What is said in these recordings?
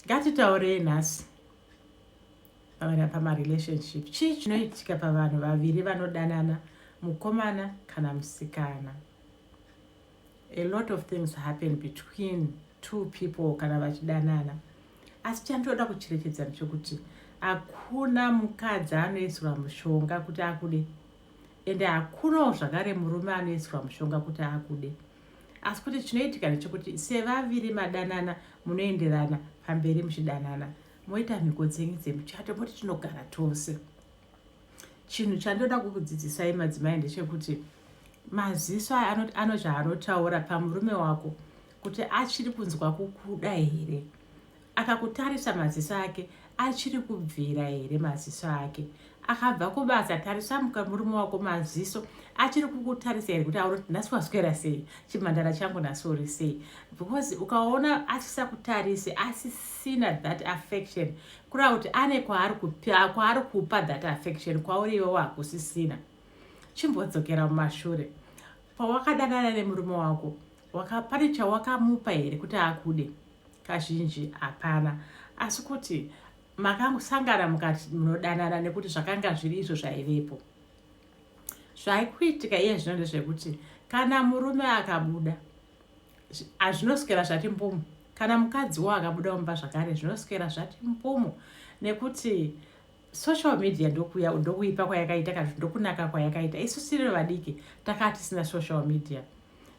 ngatitaurei nhasi pavana pamarelationship chii chinoitika pavanhu vaviri vanodanana mukomana kana musikana a lot of things happen between two people kana vachidanana asi chandoda kucherekedza ndechokuti hakuna mukadzi anoisirwa mushonga kuti akude ende hakunawo zvakare murume anoisirwa mushonga kuti akude asi kuti chinoitika ndechekuti sevaviri madanana munoenderana pamberi muchidanana moita mhiko dzenyu dzemuchato moti tinogara tose chinhu chandoda kukudzidzisai madzimai ndechekuti maziso aya ano zvaanotaura pamurume wako kuti achiri kunzwa kukuda here Akakutarisa maziso ake achiri kubvira here maziso ake akabva kubasa tarisa muka murume wako maziso achiri kukutarisa here kuti aona nhasi waswera sei chimhandara changu nhasi uri sei because ukaona asisakutarise asisina that affection kureva kuti ane kwaari kupa kwaari kupa that affection kwauri iwe wakusisina chimbodzokera mumashure pawakadanana nemurume wako Waka, pane chawakamupa here kuti akude? Kazhinji hapana, asi kuti makasangana mukati munodanana nekuti zvakanga zviri izvo zvaivepo. Zvaikuitika iye zvino ndezvekuti kana murume akabuda hazvinoswera zvati mbumu, kana mukadzi wo akabuda mumba zvakare zvinoswera zvati mbumu nekuti social media ndokuya ndokuipa kwayakaita kana kuti ndokunaka kwayakaita isu tiri vadiki takaa tisina social media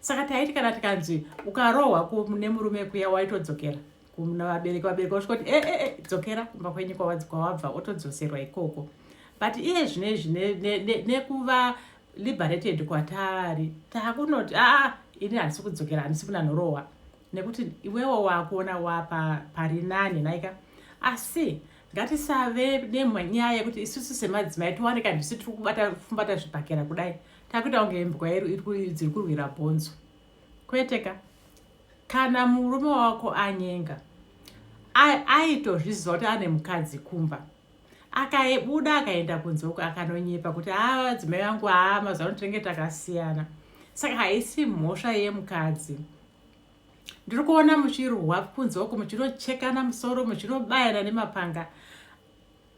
saka taiti kana tikanzi ukarohwa nemurume kuya waitodzokera kuna vabereki vabereki vasvika kuti ee eh, eh, eh, dzokera kumba kwenyu kwawabva otodzoserwa ikoko but iye zvino izvi nekuva liberated kwataari taakunoti aa ah, ini handisi kudzokera handisi kuna nhorohwa nekuti iwewo wakuona wapa pari nani naika asi ngatisave nenyaya yekuti isusu semadzimai tiwane kandisu tiri kubata fumbata zvibhakera kudai takuita kunge imbwa dziri kurwira bhonzo kwete ka kana murume wako anyenga aitozviziva kuti ane mukadzi kumba akabuda akaenda kunze uko akanonyepa kuti haa dzimai vangu haa mazuva ano tinenge takasiyana saka haisi mhosva yemukadzi ndiri kuona muchirwa kunze uko muchinochekana musoro muchinobayana nemapanga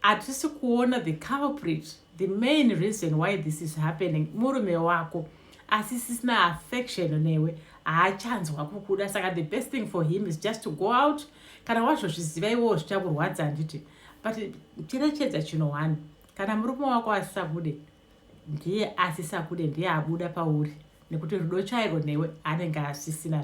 hatisi kuona the culprit the main reason why this is happening murume wako asi sisina affection newe haachanzwa kukuda saka the best thing for him is just to go out kana wazvozviziva iwowo zvichakurwadza handiti but cherechedza chino one kana murume wako asisakude ndiye asisakude ndiye abuda pauri nekuti rudo chairo newe anenge asisina